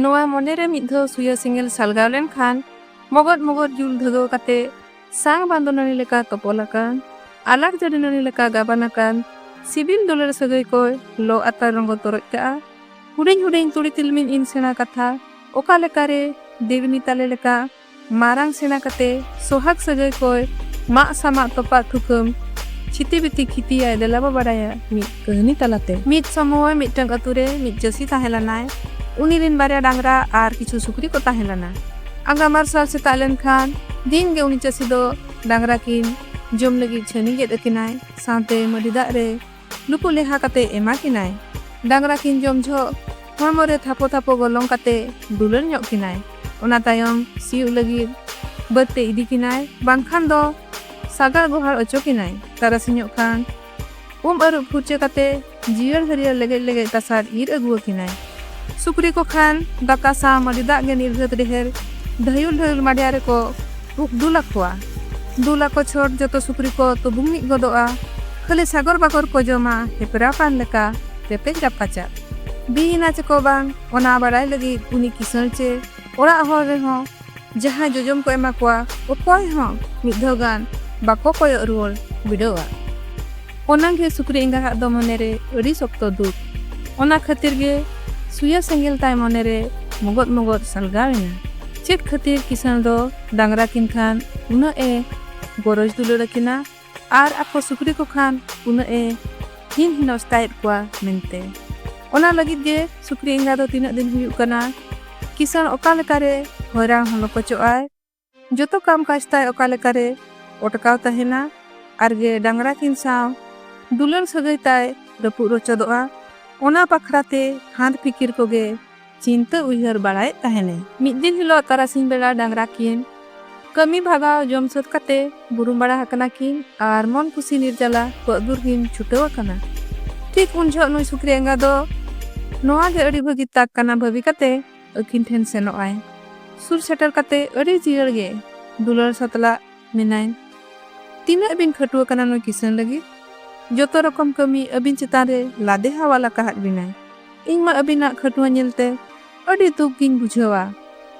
ᱱᱚᱣᱟ ᱢᱚᱱᱮ ᱨᱮ ᱢᱤᱫ ᱫᱷᱟᱣ ᱥᱩᱭᱟ ᱥᱮᱸᱜᱮᱞ ᱥᱟᱞᱜᱟᱣ ᱞᱮᱱᱠᱷᱟᱱ ᱢᱚᱜᱚᱫ ᱢᱚᱜᱚᱫ ᱡᱩᱞ ᱫᱷᱟᱹᱜᱟᱹᱣ ᱠᱟᱛᱮ ᱥᱟᱝ ᱵᱟᱸᱫᱚ ᱱᱟᱹᱲᱤ ᱞᱮᱠᱟ ᱛᱚᱯᱚᱞ ᱟᱠᱟᱱ ᱟᱞᱟᱠ ᱡᱟᱹᱨᱤ ᱱᱟᱹᱲᱤ ᱞᱮᱠᱟ ᱜᱟᱵᱟᱱ ᱟᱠᱟᱱ ᱥᱤᱵᱤᱞ ᱫᱩᱞᱟᱹᱲ ᱥᱟᱹᱜᱟᱹᱭ ᱠᱚᱭ ᱞᱚ ᱟᱛᱟᱨ ᱨᱚᱸᱜᱚ ᱛᱚᱨᱚᱡ ᱠᱟᱜᱼᱟ ᱦᱩᱰᱤᱧ ᱦᱩᱰᱤᱧ ᱛᱩᱲᱤ ᱛᱤᱞᱢᱤᱧ ᱤᱱ ᱥᱮᱬᱟ ᱠᱟᱛᱷᱟ ᱚᱠᱟ ᱞᱮᱠᱟᱨᱮ ᱫᱮᱣᱤᱱᱤ ᱛᱟᱞᱮ ᱞᱮᱠᱟ ᱢᱟᱨᱟᱝ ᱥᱮᱬᱟ ᱠᱟᱛᱮ ᱥᱚᱦᱟᱜᱽ ᱥᱟᱹᱜᱟᱹᱭ ᱠᱚᱭ ᱢᱟᱜ ᱥᱟᱢᱟᱜ ᱛᱚᱯᱟᱜ ᱛᱷᱩᱠᱟᱹᱢ ᱪᱷᱤᱛᱤ ᱵᱤᱛᱤ ᱠᱷᱤᱛᱤᱭᱟᱭ ᱫᱮᱞᱟᱵᱚ ᱵᱟᱰᱟᱭᱟ ᱢᱤᱫ ᱠᱟᱹᱦᱱᱤ ᱛᱟᱞᱟᱛᱮ᱾ ᱢᱤᱫ ᱥᱚᱢᱚᱭ ᱢᱤᱫᱴᱟᱹᱝ ᱟᱹᱛᱩ ᱨᱮ ᱢᱤᱫ ᱪᱟᱹᱥᱤ ᱛᱟᱦᱮᱸ ᱞᱮᱱᱟᱭ᱾ ᱩᱱᱤ ᱨᱤᱱ ᱵᱟᱨᱭᱟ ᱰᱟᱝᱨᱟ ᱟᱨ ᱠᱤᱪᱷᱩ ᱥᱩᱠᱨᱤ ᱠᱚ ᱛᱟᱦᱮᱸ ᱞᱮᱱᱟ᱾ ᱟᱸᱜᱟ ᱢᱟᱨᱥᱟᱞ ᱥᱮᱛᱟᱜ ᱞᱮᱱ ᱠᱷᱟᱱ ᱫᱤᱱ ᱜᱮ ᱩᱱᱤ ᱪᱟᱹᱥᱤ ᱫᱚ ᱰᱟᱝᱨᱟ ᱠᱤᱱ ᱡᱚᱢ ᱞᱟᱹᱜᱤᱫ ᱪᱷᱟᱹᱱᱤ ᱜᱮᱫ ᱟᱹᱠᱤᱱᱟᱭ ᱥᱟᱶᱛᱮ ᱢᱟᱹᱰᱤ ᱫᱟᱜ ᱨᱮ ᱱᱩᱠᱩ ᱞᱮᱦᱟ ᱠᱟᱛᱮ ᱮᱢᱟ ᱠᱤᱱᱟᱭ ᱰᱟᱝᱨᱟ ᱠᱤᱱ ᱡᱚᱢ ᱡᱷᱚᱜ ᱦᱚᱲᱢᱚ ᱨᱮ ᱛᱷᱟᱯᱚ ᱛᱷᱟᱯᱚ ᱜᱚᱞᱚᱝ ᱠᱟᱛᱮ ᱫᱩᱞᱟᱹᱲ ᱧᱚᱜ ᱠᱤᱱᱟᱭ ᱚᱱᱟ ᱛᱟᱭᱚᱢ ᱥᱤᱭᱳᱜ ᱞᱟᱹᱜᱤᱫ ᱵᱟᱹᱫᱽ ᱛᱮ ᱤᱫᱤ ᱠᱤᱱᱟᱭ ᱵᱟᱝᱠᱷᱟᱱ ᱫᱚ ᱥᱟᱜᱟᱲ ᱜᱚᱦᱟᱲ ᱚᱪᱚ ᱠᱤᱱᱟᱭ ᱛᱟᱨᱟᱥᱤᱧᱚᱜ ᱠᱷᱟᱱ ᱩᱢ ᱟᱹᱨᱩᱵ ᱯᱷᱩᱨᱪᱟᱹ ᱠᱟᱛᱮ ᱡᱤᱭᱟᱹᱲ ᱦᱟᱹᱨᱭᱟᱹᱲ ᱞᱮᱜᱮᱡ ᱞᱮᱜᱮᱡ ᱛᱟᱥᱟᱫ ᱤᱨ ᱟᱹᱜᱩᱣᱟᱹᱠᱤᱱᱟᱭ ᱥᱩᱠᱨᱤ ᱠᱚ ᱠᱷᱟᱱ ᱫᱟᱠᱟ ᱥᱟᱶ ᱢᱟᱹᱰᱤ ᱫᱟᱜ ᱜᱮ ᱱᱤᱨᱜᱷᱟᱹᱛ ᱰᱮᱦᱮᱨ ᱰᱷᱟᱹᱭᱩᱞ ᱰᱷᱟᱹᱭᱩᱞ ᱢᱟᱰᱭᱟ ᱨᱮᱠᱚ ᱵᱷᱩᱠ ᱫᱩᱞ ᱟᱠᱚᱣᱟ ᱫᱩᱞ ᱟᱠᱚ ᱪᱷᱚᱴ ᱡᱚᱛᱚ ᱥᱩᱠᱨᱤ ᱠᱚ ᱛᱩᱵᱩᱝ ᱢᱤᱫ ᱜᱚᱫᱚᱜᱼᱟ ᱠᱷᱟᱹᱞᱤ ᱥᱟᱜᱚᱨ ᱵᱟᱜᱚᱨ ᱠᱚ ᱡᱚᱢᱟ ᱦᱮᱯᱨᱟᱣ ᱠᱟᱱ ᱞᱮᱠᱟ ᱨᱮᱯᱮᱡ ᱨᱟᱯᱟᱪᱟ ᱵᱤᱭᱮᱱᱟ ᱪᱮᱠᱚ ᱵᱟᱝ ᱚᱱᱟ ᱵᱟᱲᱟᱭ ᱞᱟᱹᱜᱤᱫ ᱩᱱᱤ ᱠᱤᱥᱟᱹᱬ ᱪᱮ ᱚᱲᱟᱜ ᱦᱚᱲ ᱨᱮᱦᱚᱸ ᱡᱟᱦᱟᱸᱭ ᱡᱚᱡᱚᱢ ᱠᱚ ᱮᱢᱟ ᱠᱚᱣᱟ ᱚᱠᱚᱭ ᱦᱚᱸ ᱢᱤᱫ ᱫᱷᱟᱣ ᱜᱟᱱ ᱵᱟᱠᱚ ᱠᱚᱭᱚᱜ ᱨᱩᱣᱟᱹᱲ ᱵᱤᱰᱟᱹᱣᱟ ᱚᱱᱟᱜᱮ ᱥᱩᱠᱨᱤ ᱮᱸᱜᱟᱦᱟᱜ ᱫᱚ ᱢᱚᱱᱮᱨᱮ ᱟᱹᱰᱤ ᱥᱚᱠᱛᱚ ᱫᱩᱠ ᱚᱱᱟ ᱠᱷᱟᱹᱛᱤᱨ ᱜᱮ ᱥᱩᱭᱟ ᱥᱮᱸᱜᱮᱞ ᱛᱟᱭ ᱢᱚᱱᱮᱨᱮ ᱢᱚᱜᱚᱫ ᱢᱚᱜᱚᱫ ᱥᱟᱞᱜᱟᱣ ᱮᱱᱟ ᱪᱮᱫ ᱠᱷᱟᱹᱛᱤᱨ ᱠᱤᱥᱟᱹᱬ ᱫᱚ ᱰᱟᱝᱨᱟ ᱠᱤᱱ ᱠᱷᱟᱱ ᱩᱱᱟᱹᱜ ᱮ ᱜᱚᱨᱚᱡᱽ ᱫᱩᱞᱟᱹᱲ ᱟᱹᱠᱤᱱᱟ ᱟᱨ ᱟᱠᱚ ᱥᱩᱠᱨᱤ ᱠᱚ ᱠᱷᱟᱱ ᱩᱱᱟᱹᱜ ᱮ ᱦᱤᱱ ᱦᱤᱱᱚᱥᱛᱟᱭᱮᱫ ᱠᱚᱣᱟ ᱢᱮᱱᱛᱮ ᱚᱱᱟ ᱞᱟᱹᱜᱤᱫ ᱜᱮ ᱥᱩᱠᱨᱤ ᱮᱸᱜᱟ ᱫᱚ ᱛᱤᱱᱟᱹᱜ ᱫᱤᱱ ᱦᱩᱭᱩᱜ ᱠᱟᱱᱟ ᱠᱤᱥᱟᱹᱬ ᱚᱠᱟ ᱞᱮᱠᱟᱨᱮ ᱦᱚᱭᱨᱟᱱ ᱦᱚᱸ ᱞᱚᱠᱚᱪᱚᱜᱼᱟᱭ ᱡᱚᱛᱚ ᱠᱟᱢ ᱠᱟᱡᱽ ᱛᱟᱭ ᱚᱠᱟ ᱞᱮᱠᱟᱨᱮ ᱚᱴᱠᱟᱣ ᱛᱟᱦᱮᱱᱟ ᱟᱨ ᱜᱮ ᱰᱟᱝᱨᱟ ᱠᱤᱱ ᱥᱟᱶ ᱫᱩᱞᱟᱹᱲ ᱥᱟᱹᱜᱟᱹᱭ ᱛᱟᱭ ᱨᱟᱹᱯᱩᱫ ᱨᱚᱪᱚᱫᱚᱜᱼᱟ ᱚᱱᱟ ᱵᱟᱠᱷᱨᱟ ᱛᱮ ᱦᱟᱸᱫᱽ ᱯᱷᱤᱠᱤᱨ ᱠᱚᱜᱮ ᱪᱤᱱᱛᱟᱹ ᱩᱭᱦᱟᱹᱨ ᱵᱟᱲᱟᱭᱮᱫ ᱛᱟᱦᱮᱱᱮ᱾ ᱢᱤᱫ ᱫᱤᱱ ᱦᱤᱞᱚᱜ ᱛᱟᱨᱟᱥᱤᱧ ᱵᱮᱲᱟ ᱰᱟᱝᱜᱽᱨᱟ ᱠᱤᱱ ᱠᱟᱹᱢᱤ ᱵᱷᱟᱜᱟᱣ ᱡᱚᱢ ᱥᱟᱹᱛ ᱠᱟᱛᱮ ᱵᱩᱨᱩᱢ ᱵᱟᱲᱟ ᱦᱟᱠᱟᱱᱟ ᱠᱤᱱ ᱟᱨ ᱢᱚᱱ ᱠᱩᱥᱤ ᱱᱤᱨᱡᱟᱞᱟ ᱠᱚᱜ ᱫᱩᱨ ᱠᱤᱱ ᱪᱷᱩᱴᱟᱹᱣ ᱟᱠᱟᱱᱟ᱾ ᱴᱷᱤᱠ ᱩᱱ ᱡᱷᱚᱜ ᱱᱩᱭ ᱥᱩᱠᱨᱤ ᱮᱸᱜᱟ ᱫᱚ ᱱᱚᱶᱟ ᱜᱮ ᱟᱹᱰᱤ ᱵᱷᱟᱹᱜᱤ ᱛᱟᱠ ᱠᱟᱱᱟ ᱵᱷᱟᱹᱵᱤ ᱠᱟᱛᱮ ᱟᱹᱠᱤᱱ ᱴᱷᱮᱱ ᱥᱮᱱᱚᱜ ᱟᱭ᱾ ᱥᱩᱨ ᱥᱮᱴᱮᱨ ᱠᱟᱛᱮ ᱟᱹᱰᱤ ᱡᱤᱭᱟᱹᱲ ᱜᱮ ᱫᱩᱞᱟᱹᱲ ᱥᱟᱛᱞᱟᱜ᱾ ᱢᱮᱱᱟᱭ ᱛᱤᱱᱟᱹᱜ ᱵᱤᱱ ᱠᱷᱟᱹᱴᱩᱣᱟᱹ ᱠᱟᱱᱟ ᱱᱩᱭ ᱠᱤᱥᱟᱹᱬ ᱞᱟᱹᱜᱤᱫ ᱡᱚᱛᱚ ᱨᱚᱠᱚᱢ ᱠᱟᱹᱢᱤ ᱟᱹᱵᱤᱱ ᱪᱮᱛᱟᱱ ᱨᱮ ᱞᱟᱫᱮ ᱦᱟᱣᱟᱞ ᱟᱠᱟᱦᱟᱫ ᱵᱤᱱᱟᱭ ᱤᱧ ᱢᱟ ᱟᱹᱵᱤᱱᱟᱜ ᱠᱷᱟᱹᱴᱩᱣᱟᱹ ᱧᱮᱞᱛᱮ ᱟᱹᱰᱤ ᱫᱩᱠ ᱜᱤᱧ ᱵᱩᱡᱷᱟᱹᱣᱟ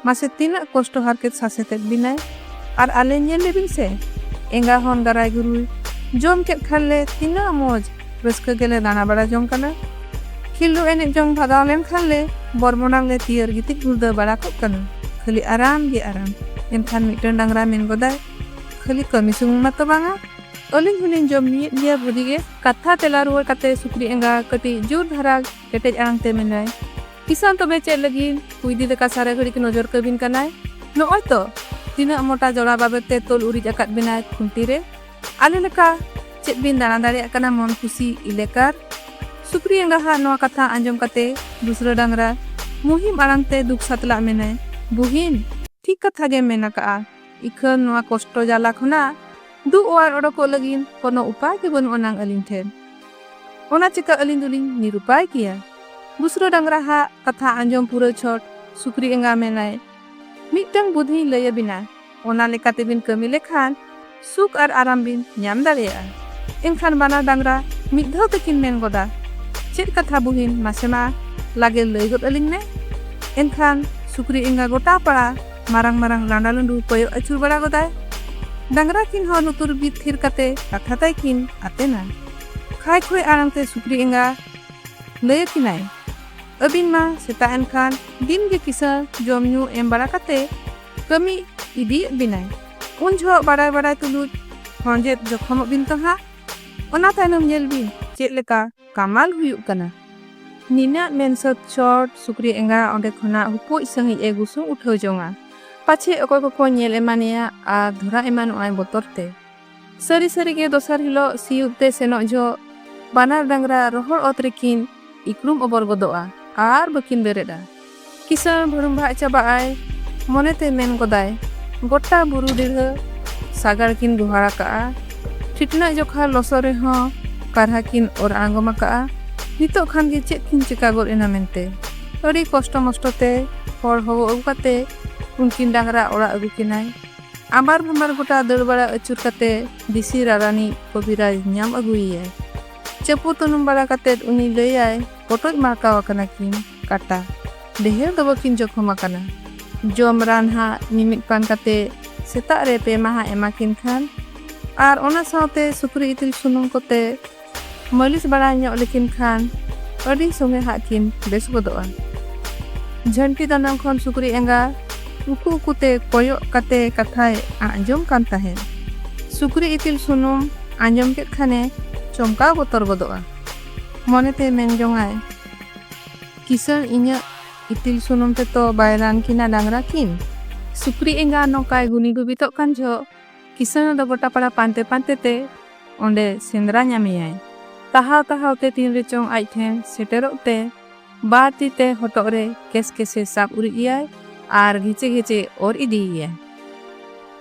ᱢᱟᱥᱮ ᱛᱤᱱᱟᱹᱜ ᱠᱚᱥᱴᱚ ᱦᱟᱨᱠᱮᱛ ᱥᱟᱥᱮᱛᱮᱫ ᱵᱤᱱᱟᱭ ᱟᱨ ᱟᱞᱮ ᱧᱮᱞ ᱞᱮᱵᱤᱱ ᱥᱮ ᱮᱸᱜᱟ ᱦᱚᱱ ᱜᱟᱨᱟᱭ ᱜᱩᱨᱩᱭ ᱡᱚᱢ ᱠᱮᱫ ᱠᱷᱟᱱ ᱞᱮ ᱛᱤᱱᱟᱹᱜ ᱢᱚᱡᱽ ᱨᱟᱹᱥᱠᱟᱹ ᱜᱮᱞᱮ ᱫᱟᱬᱟ ᱵᱟᱲᱟ ᱡᱚᱝ ᱠᱟᱱᱟ ᱠᱷᱤᱞᱰᱩ ᱮᱱᱮᱡ ᱡᱚᱝ ᱵᱷᱟᱜᱟᱣ ᱞᱮᱱᱠᱷᱟᱱ ᱞᱮ ᱵᱚᱨᱢᱚᱱᱟᱝ ᱞᱮ ᱛᱤᱭᱟᱹᱨ ᱜᱤᱛᱤᱡ ᱜᱩᱲᱫᱟᱹ ᱵᱟᱲᱟ ᱠᱚᱜ ᱠᱟᱱᱟ ᱠᱷᱟᱹᱞᱤ ᱟᱨᱟᱢ ᱜᱮ ᱟᱨᱟᱢ ᱮᱱᱠᱷᱟᱱ ᱢᱤᱫᱴᱟᱝ ᱰᱟᱝᱨᱟ ᱢᱮᱱ ᱜᱚᱫᱟᱭ ᱠᱷᱟᱹᱞᱤ ᱠᱟᱹᱢᱤ ᱥᱩᱢᱩᱝ ᱢᱟᱛᱚ ᱵᱟᱝᱟ ᱟᱹᱞᱤᱧ ᱦᱚᱸᱞᱤᱧ ᱡᱚᱢ ᱧᱩᱭᱮᱫ ᱜᱮᱭᱟ ᱵᱷᱟᱹᱜᱤ ᱜᱮ ᱠᱟᱛᱷᱟ ᱛᱮᱞᱟ ᱨᱩᱣᱟᱹᱲ ᱠᱟᱛᱮ ᱥᱩᱠᱨᱤ ᱮᱸᱜᱟ ᱠᱟᱹᱴᱤᱡ ᱡᱳᱨ ᱫᱷᱟᱨᱟ ᱠᱮᱴᱮᱡ ᱟᱲᱟᱝ ᱛᱮ ᱢᱮᱱᱟᱭ ᱠᱤᱥᱟᱱ ᱛᱚᱵᱮ ᱪᱮᱫ ᱞᱟᱹᱜᱤᱫ ᱠᱩᱭᱫᱤ ᱞᱮᱠᱟ ᱥᱟᱨᱟ ᱜᱷᱟᱹᱲᱤᱡ ᱱᱚᱡᱚᱨ ᱠᱟᱹᱵᱤᱱ ᱠᱟᱱᱟᱭ ᱱᱚᱜᱼᱚᱭ ᱛᱚ ᱛᱤᱱᱟᱹᱜ ᱢᱚᱴᱟ ᱡᱚᱲᱟ ᱵᱟᱵᱮᱨ ᱛᱮ ᱛᱚᱞ ᱩᱨᱤᱡ ᱟᱠᱟᱫ ᱵᱮᱱᱟᱭ ᱠᱷᱩᱱᱴᱤ ᱨᱮ ᱟᱞᱮ ᱞᱮᱠᱟ ᱪᱮᱫ ᱵᱤᱱ ᱫᱟᱬᱟ ᱫᱟᱲᱮᱭᱟᱜ ᱠᱟᱱᱟ ᱢᱚᱱ ᱠᱩᱥᱤ ᱤᱞᱮᱠᱟᱨ ᱥᱩᱠᱨᱤ ᱮᱸᱜᱟᱦᱟᱜ ᱱᱚᱣᱟ ᱠᱟᱛᱷᱟ ᱟᱸᱡᱚᱢ ᱠᱟᱛᱮ ᱫᱩᱥᱨᱟᱹ ᱰᱟᱝᱨᱟ ᱢᱩᱦᱤᱢ ᱟᱲᱟᱝ ᱛᱮ ᱫᱩᱠ ᱥᱟᱛᱞᱟᱜ ᱢᱮᱱᱟᱭ ᱵᱩᱦᱤᱱ ᱴᱷᱤᱠ ᱠᱟᱛᱷᱟ ᱜᱮ ᱢᱮᱱ ᱟᱠᱟᱜᱼᱟ ᱤᱠᱷᱟᱹᱱ ᱱᱚᱣᱟ ᱠᱚᱥᱴᱚ ᱡᱟᱞᱟ ᱠᱷᱚᱱᱟᱜ ᱫᱩ ᱚᱣᱟᱨ ᱚᱰᱚᱠᱚᱜ ᱞᱟᱹᱜᱤᱫ ᱠᱳᱱᱳ ᱩᱯᱟᱭ ᱜᱮ ᱵᱟᱹᱱᱩᱜ ᱟᱱᱟᱝ ᱟᱹᱞᱤᱧ ᱴᱷᱮᱱ ᱚᱱᱟ ᱪᱤᱠᱟᱹ ᱟᱹᱞᱤᱧ ᱫᱚᱞᱤᱧ ᱱᱤᱨᱩᱯᱟᱭ ᱜᱮᱭᱟ ᱫᱩᱥᱨᱟᱹ ᱰᱟᱝᱨᱟ ᱦᱟᱜ ᱠᱟᱛᱷᱟ ᱟᱸᱡᱚᱢ ᱯᱩᱨᱟᱹ ᱪᱷᱚᱴ ᱥᱩᱠᱨᱤ ᱮᱸᱜᱟ ᱢᱮᱱᱟᱭ ᱢᱤᱫᱴᱟᱝ ᱵᱩᱫᱷᱤᱧ ᱞᱟᱹᱭ ᱟᱹᱵᱤᱱᱟ ᱚᱱᱟ ᱞᱮᱠᱟᱛᱮ ᱵᱤᱱ ᱠᱟᱹᱢᱤ ᱞᱮᱠᱷᱟᱱ ᱥᱩᱠ ᱟᱨ ᱟᱨᱟᱢ ᱵᱤᱱ ᱧᱟᱢ ᱫᱟᱲᱮᱭᱟᱜᱼᱟ ᱮᱱᱠᱷᱟᱱ ᱵᱟᱱᱟᱨ ᱰᱟᱝᱨᱟ ᱢᱤᱫ ᱫᱷᱟᱣ ᱛᱮᱠᱤᱱ ᱢᱮᱱ ᱜᱚᱫᱟ ᱪᱮᱫ ᱠᱟᱛᱷᱟ ᱵᱩᱦᱤᱱ ᱢᱟᱥᱮ ᱢᱟ ᱞᱟᱜᱮ ᱞᱟᱹᱭ ᱜᱚᱫ ᱟᱹᱞᱤᱧ ᱢᱮ ᱮᱱᱠᱷᱟᱱ ᱥᱩᱠᱨᱤ ᱮᱸᱜᱟ ᱜᱚᱴᱟ ᱯᱟᱲᱟ ᱢᱟᱨᱟᱝ ᱢᱟᱨᱟᱝ ᱞᱟᱸᱰᱟ ᱞᱩᱸᱰᱩ ᱠᱚᱭᱚᱜ ᱟᱹᱪᱩᱨ ᱵᱟᱲᱟ ᱜᱚᱫᱟᱭ ᱰᱟᱝᱨᱟ ᱠᱤᱱ ᱦᱚᱸ ᱞᱩᱛᱩᱨ ᱵᱤᱫ ᱛᱷᱤᱨ ᱠᱟᱛᱮ ᱠᱟᱛᱷᱟ ᱛᱟᱭ ᱠᱤᱱ ᱟᱛᱮᱱᱟ ᱠᱷᱟᱭ ᱠᱷᱚᱭ ᱟᱲᱟᱝ ᱛᱮ ᱥᱩᱠᱨᱤ ᱮᱸᱜᱟ ᱞᱟᱹᱭ ᱟᱹᱠᱤᱱᱟᱭ ᱟᱹᱵᱤᱱ ᱢᱟ ᱥᱮᱛᱟᱜ ᱮᱱᱠᱷᱟᱱ ᱫᱤᱱ ᱜᱮ ᱠᱤᱥᱟᱹᱬ ᱡᱚᱢ ᱧᱩ ᱮᱢ ᱵᱟᱲᱟ ᱠᱟᱛᱮ ᱠᱟᱹᱢᱤ ᱤᱫᱤᱭᱮᱫ ᱵᱤᱱᱟᱭ ᱩᱱ ᱡᱚᱦᱚᱜ ᱵᱟᱲᱟᱭ ᱵᱟᱲᱟᱭ ᱛᱩᱞᱩᱡ ᱦᱚᱸᱡᱮᱫ ᱡᱚᱠᱷᱚᱢᱚᱜ ᱵᱤᱱ ᱛᱚ ᱦᱟᱸᱜ ᱚᱱᱟ ᱛᱟᱭᱱᱚᱢ ᱧᱮᱞ ᱵᱤᱱ ᱪᱮᱫ ᱞᱮᱠᱟ ᱠᱟᱢᱟᱞ ᱦᱩᱭᱩᱜ ᱠᱟᱱᱟ ᱱᱤᱱᱟᱹᱜ ᱢᱮᱱ ᱥᱟᱹᱛ ᱪᱚᱴ ᱥᱩᱠᱨᱤ ᱮᱸᱜᱟ ᱚᱸᱰᱮ ᱠᱷᱚᱱᱟᱜ ᱦᱩᱯᱩᱡ ᱥᱟᱺᱦᱤᱡ ᱮ ᱜᱩᱥᱩᱝ ᱩᱴᱷᱟᱹᱣ ᱡᱚᱝᱟ ᱯᱟᱪᱷᱮ ᱚᱠᱚᱭ ᱠᱚᱠᱚ ᱧᱮᱞ ᱮᱢᱟᱱᱮᱭᱟ ᱟᱨ ᱫᱷᱚᱨᱟ ᱮᱢᱟᱱᱚᱜᱼᱟᱭ ᱵᱚᱛᱚᱨ ᱛᱮ ᱥᱟᱹᱨᱤ ᱥᱟᱹᱨᱤ ᱜᱮ ᱫᱚᱥᱟᱨ ᱦᱤᱞᱳᱜ ᱥᱤᱭᱩᱫ ᱛᱮ ᱥᱮᱱᱚᱜ ᱡᱚᱦᱚᱜ ᱵᱟᱱᱟᱨ ᱰᱟᱝᱨᱟ ᱨᱚᱦᱚᱲ ᱚᱛ ᱨᱮᱠᱤᱱ ᱤᱠᱲᱩᱢ ᱚᱵᱚᱨ ᱜᱚᱫᱚᱜᱼᱟ ᱟᱨ ᱵᱟᱹᱠᱤᱱ ᱵᱮᱨᱮᱫᱼᱟ ᱠᱤᱥᱟᱹᱬ ᱵᱷᱟᱹᱲᱩᱢᱵᱷᱟᱜ ᱪᱟᱵᱟᱜ ᱟᱭ ᱢᱚᱱᱮᱛᱮ ᱢᱮᱱ ᱜᱚᱫᱟᱭ ᱜᱚᱴᱟ ᱵᱩᱨᱩ ᱰᱤᱲᱦᱟᱹ ᱥᱟᱜᱟᱲ ᱠᱤᱱ ᱜᱚᱦᱟᱲ ᱟᱠᱟᱜᱼᱟ ᱴᱷᱤᱴᱱᱟᱹᱜ ᱡᱚᱠᱷᱟ ᱞᱚᱥᱚ ᱨᱮᱦᱚᱸ ᱠᱟᱨᱦᱟ ᱠᱤᱱ ᱚᱨ ᱟᱬᱜᱚᱢ ᱟᱠᱟᱜᱼᱟ ᱱᱤᱛᱚᱜ ᱠᱷᱟᱱ ᱜᱮ ᱪᱮᱫ ᱠᱤᱱ ᱪᱤᱠᱟ ᱜᱚᱫ ᱮᱱᱟ ᱢᱮᱱᱛᱮ ᱟᱹᱰᱤ ᱠᱚᱥᱴᱚ ᱢᱚᱥᱴᱚ ᱛᱮ ᱦᱚᱲ ᱦᱚᱦᱚ ᱟᱹᱜᱩ ᱠᱟᱛᱮ ᱩᱱᱠᱤᱱ ᱰᱟᱝᱨᱟ ᱚᱲᱟᱜ ᱟᱹᱜᱩ ᱠᱤᱱᱟᱭ ᱟᱵᱟᱨ ᱵᱟᱢᱟᱨ ᱜᱚᱴᱟ ᱫᱟᱹᱲ ᱵᱟᱲᱟ ᱟᱹᱪᱩᱨ ᱠᱟᱛᱮ ᱵᱤᱥᱤ ᱨᱟᱨᱟᱱᱤ ᱠᱚᱵᱤᱨᱟᱡᱽ ᱧᱟᱢ ᱟᱹᱜᱩᱭᱮᱭᱟᱭ ᱪᱟᱹᱯᱩ ᱛᱩᱱᱩᱢ ᱵᱟᱲᱟ ᱠᱟᱛᱮ ᱩᱱᱤ ᱞᱟᱹᱭᱟᱭ ᱯᱚᱴᱚᱡ ᱢᱟᱨᱠᱟᱣ ᱟᱠᱟᱱᱟ ᱠᱤᱱ ᱠᱟᱴᱟ ᱰᱮᱦᱮᱨ ᱫᱚ ᱵᱟᱹᱠᱤᱱ ᱡᱚᱠᱷᱚᱢ ᱟᱠᱟᱱᱟ ᱡᱚᱢ ᱨᱟᱱ ᱦᱟᱸᱜ ᱢᱤᱢᱤᱫ ᱯᱟᱱ ᱠᱟᱛᱮ ᱥᱮᱛᱟᱜ ᱨᱮ ᱯᱮ ᱢᱟᱦᱟ ᱮᱢᱟ ᱠᱤᱱ ᱠᱷᱟᱱ ᱟᱨ ᱚᱱᱟ ᱥᱟᱶᱛᱮ ᱥᱩᱠᱨᱤ ᱤᱛᱤᱞ ᱥᱩᱱᱩᱢ ᱠᱚᱛᱮ ᱢᱟᱹᱞᱤᱥ ᱵᱟᱲᱟ ᱧᱚᱜ ᱞᱮᱠᱤᱱ ᱠᱷᱟᱱ ᱟᱹᱰᱤ ᱥᱚᱸᱜᱮ ᱦᱟᱸᱜ ᱠᱤᱱ ᱵᱮᱥ ᱜᱚᱫᱚᱜᱼᱟ᱾ ᱡᱷᱟᱹᱱᱴᱤ ᱫᱟᱱᱟᱝ ᱠᱷᱚᱱ ᱥᱩᱠᱨᱤ ᱮᱸᱜᱟ ᱩᱠᱩ ᱩᱠᱩ ᱛᱮ ᱠᱚᱭᱚᱜ ᱠᱟᱛᱮ ᱠᱟᱛᱷᱟᱭ ᱟᱸᱡᱚᱢ ᱠᱟᱱ ᱛᱟᱦᱮᱸᱫ᱾ ᱥᱩᱠᱨᱤ ᱤᱛᱤᱞ ᱥᱩᱱᱩᱢ ᱟᱸᱡᱚᱢ ᱠᱮᱫ ᱠᱷᱟᱱᱮ ᱪᱚᱢᱠᱟᱣ ᱵᱚᱛᱚᱨ ᱜᱚᱫᱚᱜᱼᱟ᱾ ᱢᱚᱱᱮ ᱛᱮ ᱢᱮᱱ ᱡᱚᱝ ᱟᱭ, ᱠᱤᱥᱟᱹᱬ ᱤᱧᱟᱜ ᱤᱛᱤᱞ ᱥᱩᱱᱩᱢ ᱛᱮᱛᱚ ᱵᱟᱭ ᱨᱟᱱ ᱠᱤᱱᱟ ᱰᱟᱝᱨᱟ ᱠᱤᱱ᱾ ᱥᱩᱠᱨᱤ ᱮᱸᱜᱟ ᱱᱚᱝᱠᱟᱭ ᱜᱩᱱᱤ ᱜᱩᱵᱤᱛᱚᱜ ᱠᱟᱱ ᱡᱚᱦᱚᱜ᱾ ᱠᱤᱥᱟᱹᱬ ᱫᱚ ᱜᱚᱴᱟ ᱯᱟᱲᱟ ᱯᱟᱱᱛᱮ ᱯᱟᱱᱛᱮ ᱛᱮ ᱚᱸᱰᱮ ᱥᱮᱸᱫᱽᱨᱟ ᱧᱟᱢᱮᱭᱟᱭ᱾ ᱛᱟᱦᱟᱣ ᱛᱟᱦᱟᱣ ᱛᱮ ᱛᱤᱱ ᱨᱮ ᱪᱚᱝ ᱟᱡ ᱴᱷᱮᱱ ᱥᱮᱴᱮᱨᱚᱜ ᱛᱮ ᱵᱟᱨ ᱛᱤ ᱛᱮ ᱦᱚᱴᱚᱜ ᱨᱮ ᱠᱮᱥ ᱠᱮᱥᱮ ᱥᱟᱵ ᱩᱨᱤᱡ ᱮᱭᱟᱭ ᱟᱨ ᱜᱷᱮᱪᱮ ᱜᱷᱮᱪᱮ ᱚᱨ ᱤᱫᱤᱭᱮᱭᱟᱭ᱾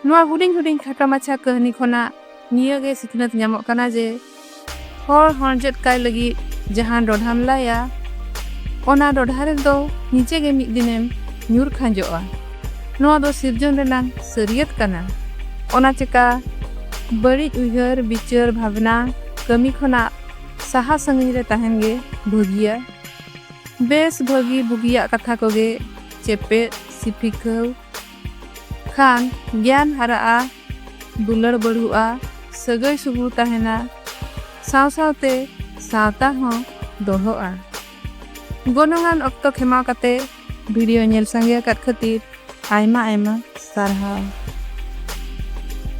ᱱᱚᱣᱟ ᱦᱩᱰᱤᱧ ᱦᱩᱰᱤᱧ ᱠᱷᱟᱴᱚ ᱢᱟᱪᱷᱟ ᱠᱟᱹᱦᱱᱤ ᱠᱷᱚᱱᱟᱜ ᱱᱤᱭᱟᱹ ᱜᱮ ᱥᱤᱠᱷᱱᱟᱹᱛ ᱧᱟᱢᱚᱜ ᱠᱟᱱᱟ ᱡᱮ ᱦᱚᱲ ᱦᱚᱲᱡᱮᱫ ᱠᱟᱭ ᱞᱟᱹᱜᱤᱫ ᱡᱟᱦᱟᱸ ᱰᱚᱰᱷᱟᱢ ᱞᱟᱭᱟ ᱚᱱᱟ ᱰᱚᱰᱷᱟ ᱨᱮᱫᱚ ᱱᱤᱡᱮ ᱜᱮ ᱢᱤᱫ ᱫᱤᱱᱮᱢ ᱧᱩᱨ ᱠᱷᱟᱸᱡᱚᱜᱼᱟ ᱱᱚᱣᱟ ᱫᱚ ᱥᱤᱨᱡᱚᱱ ᱨᱮᱱᱟᱜ ᱥᱟᱹᱨᱤᱭᱟᱹᱛ ᱠᱟᱱᱟ ᱚᱱᱟ ᱪᱮᱠᱟ ᱵᱟᱹᱲᱤᱡ ᱩᱭᱦᱟᱹᱨ ᱵᱤᱪᱟᱹᱨ ᱵᱷᱟᱵᱽᱱᱟ ᱠᱟᱹᱢᱤ ᱠᱷᱚᱱᱟᱜ ᱥᱟᱦᱟ ᱥᱟᱺᱜᱤᱧ ᱨᱮ ᱛᱟᱦᱮᱱ ᱜᱮ ᱵᱷᱟᱹᱜᱤᱭᱟ ᱵᱮᱥ ᱵᱷᱟᱹᱜᱤ ᱵᱩᱜᱤᱭᱟᱜ ᱠᱟᱛᱷᱟ ᱠᱚᱜᱮ ᱪᱮᱯᱮᱫ ᱥᱤᱯᱷᱤᱠᱟᱹᱣ ᱠᱷᱟᱱ ᱜᱮᱭᱟᱱ ᱦᱟᱨᱟᱜᱼᱟ ᱫᱩᱞᱟᱹᱲ ᱵᱟᱹᱲᱦᱩᱜᱼᱟ, ᱥᱟᱹᱜᱟᱹᱭ ᱥᱩᱜᱩᱲ ᱛᱟᱦᱮᱱᱟ, ᱥᱟᱶ ᱥᱟᱶᱛᱮ ᱥᱟᱶᱛᱟ ᱦᱚᱸ ᱫᱚᱲᱦᱚᱜᱼᱟ᱾ ᱜᱚᱱᱚᱝᱟᱱ ᱚᱠᱛᱚ ᱠᱷᱮᱢᱟᱣ ᱠᱟᱛᱮ ᱵᱷᱤᱰᱤᱭᱳ ᱧᱮᱞ ᱥᱟᱸᱜᱮ ᱟᱠᱟᱫ ᱠᱷᱟᱹᱛᱤᱨ ᱟᱭᱢᱟ ᱟᱭᱢᱟ ᱥᱟᱨᱦᱟᱣ᱾